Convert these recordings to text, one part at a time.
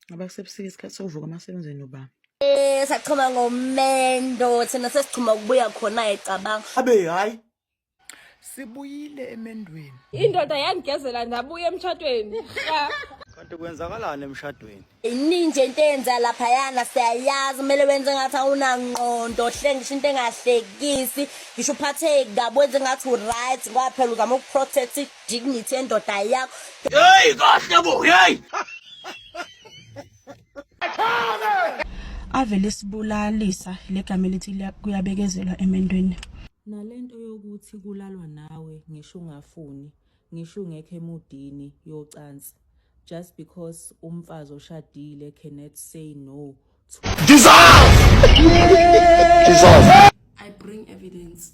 Ngoba kusebusika isikhathi sokuvuka amasebenzini uba. Eh sachoma ngomendo thina sesichoma ukubuya khona ecabanga. Abe hayi. Sibuyile emendweni. Indoda yangigezela ndabuya emtshadweni. Kanti kwenzakalani emshadweni? Iningi nje into eyenza lapha yana siyayazi kumele wenze ngathi awunangqondo hlengisho into engahlekisi ngisho uphatheki kabi wenze ngathi uright kwaphela uzama ukuprotect dignity endoda yakho hey kahle bo hey ave lesibulalisa legama elithi kuyabekezelwa emendweni nalento yokuthi kulalwa nawe ngisho ungafuni ngisho ungekho emudini yocansi just because umfazi oshadile cannot say no to dissolve dissolve i bring evidence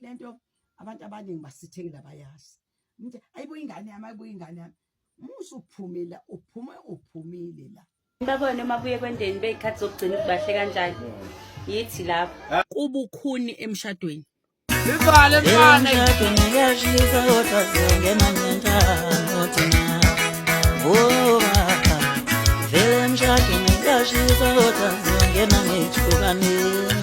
le nto abantu abaningi basithengela bayazi mnje ayibo ingane yami ayibo ingane yami musa uphumile uphume uphumile la babone uma buye kwendeni beyikhathi zokugcina ukubahle kanjani yithi lapho kubukhuni emshadweni Ivale mfana emshadweni ngiyashisa kodwa sengena ngentando thina ngoba vele emshadweni ngiyashisa kodwa sengena ngithukanile